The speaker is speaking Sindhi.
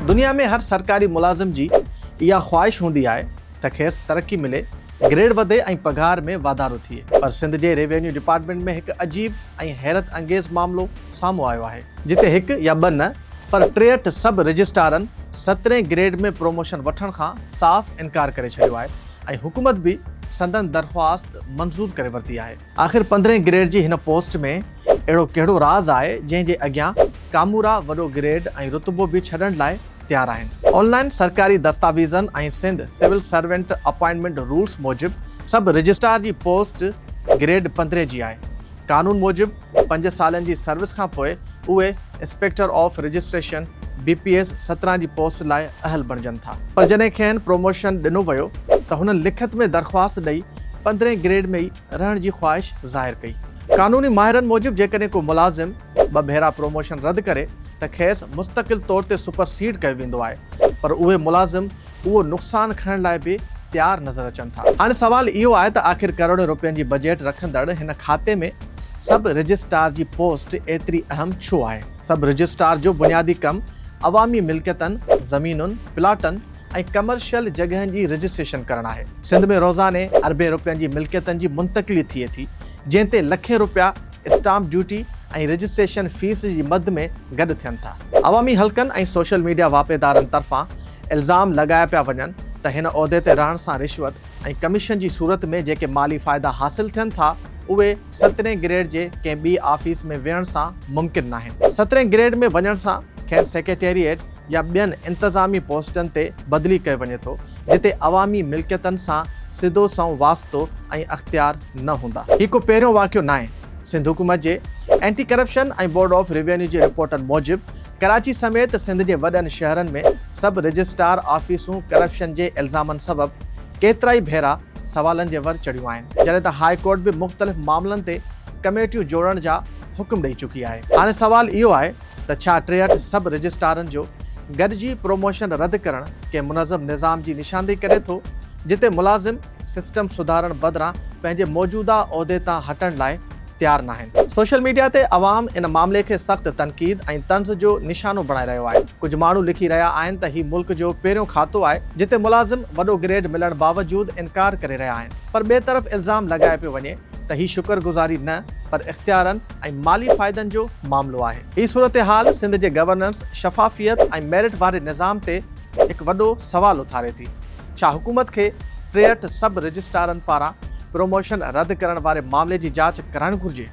دنيا ۾ هر سرڪاري ملازم جي اها خواهش هوندي آهي ته کيس ترقي ملي، گريڊ وڌي ۽ پگهار ۾ واڌارو ٿئي پر سنڌ جي ريونيو ڊپارٽمينٽ ۾ هڪ عجيب ۽ حيرت انگيز معاملو سامهون آيو آهي، جتي هڪ يا ٻه نه پر ٽيهٺ سب رجسٽرارن سترهين گريڊ ۾ پروموشن وٺڻ کان صاف انڪار ڪري ڇڏيو آهي ۽ حڪومت به سندن درخواست منظور ڪري ورتي آهي. آخر پندرهين گريڊ جي هن پوسٽ ۾ اهڙو ڪهڙو راز آهي جنهن جي اڳيان ڪامورا وڏو گريڊ ۽ رتبو به ڇڏڻ لاء تيار آهن. آن لائين سرڪاري دستاويزن ۽ Sindh civil servant appointment rules موجب سب رجسٽرار جي پوسٽ گريڊ پندرهين جي آهي. قانون موجب پنج سالن جي سروس کانپوء اهي inspector of registration, B P S, سترهن جي پوسٽ لاء اهل بڻجن ٿا. پر جڏهن کين پروموشن ڏنو ويو ته هنن لکت ۾ درخواست ڏئي پندرهين گريڊ ۾ ئي رهڻ جي خواهش ظاهر ڪئي. قانوني ماهرن موجب جيڪڏهن ڪو ملازم ٻه ڀيرا پروموشن رد ڪري ته کيس مستقل طور تي سپر سيڊ ڪيو ويندو آهي پر اهي ملازم اهو نقصان کڻڻ لاء به تيار نظر اچن ٿا. هاڻي سوال اهو آهي ته آخر ڪروڙين روپين جي بجيٽ رکندڙ هن کاتي ۾ سب رجسٽرار جي پوسٽ ايتري اهم ڇو آهي؟ سب رجسٽرار جو بنيادي ڪم عوامي ملڪيتن، زمينن، پلاٽن ۽ ڪمرشل جڳهن جي رجسٽريشن ڪرڻ آهي. سنڌ ۾ روزاني اربين روپين جي ملڪيتن جي منتقلي ٿئي ٿي، جنهن تي لکين روپيا اسٽامپ ڊيوٽي ۽ رجسٽريشن فيس جي مد ۾ گڏ ٿين ٿا. عوامي حلقن ۽ سوشل ميڊيا واهپيدارن طرفان الزام لڳايا پيا وڃن ته هن عهدي تي رهڻ سان رشوت ۽ ڪميشن جي صورت ۾ جيڪي مالي فائدا حاصل ٿين ٿا اهي سترهين گريڊ جي ڪنهن ٻي آفيس ۾ ويهڻ سان ممڪن ناهن. سترهين گريڊ ۾ وڃڻ سان کين سيڪريٽريٽ يا ٻين انتظامي پوسٽن تي بدلي ڪيو وڃي ٿو جتي عوامي ملڪيتن سان سڌو سنئون واسطو ۽ اختيار نه هوندا. هي ڪو پهريون واقعو ناهي. سنڌ حڪومت جي anti corruption ۽ board of revenue جي رپورٽن موجب ڪراچي سميت سنڌ جي وڏن شهرن ۾ سب رجسٽرار آفيسون ڪرپشن جي الزامن سبب ڪيترائي ڀيرا سوالن جي ور چڙهيون آهن، جڏهن ته هاء ڪورٽ به مختلف معاملن تي ڪميٽيون جوڙڻ جا حڪم ڏئي چڪي آهي. هاڻي سوال اهو آهي ته ڇا ٽيهٺ سب رجسٽرارن جو گڏجي پروموشن رد ڪرڻ ڪنهن منظم نظام جي نشاندهي ڪري ٿو، جتي ملازم سسٽم سڌارڻ بدران پنهنجي موجوده عهدي تان هٽڻ لاء، تيار ناهن. سوشل ميڊيا تي عوام ان معاملي کي سخت تنقيد ۽ طنز جو نشانو بڻائي رهيو آهي. ڪجهه ماڻهو لکي رهيا آهن ته هي ملڪ جو پهريون کاتو آهي جتي ملازم وڏو گريڊ ملڻ باوجود انڪار ڪري رهيا آهن پر ٻئي طرف الزام لڳايو پيو وڃي ته هي شڪر گذاري نه پر اختيارن ۽ مالي فائدن جو معاملو آهي. هي صورتحال سنڌ جي گورننس، شفافيت ۽ ميرٽ واري نظام تي هڪ وڏو سوال اٿاري ٿي. ڇا حڪومت کي ٽيهٺ سب رجسٽرارن پاران پروموشن رد ڪرڻ واري معاملي جي جاچ ڪرائڻ گهرجي؟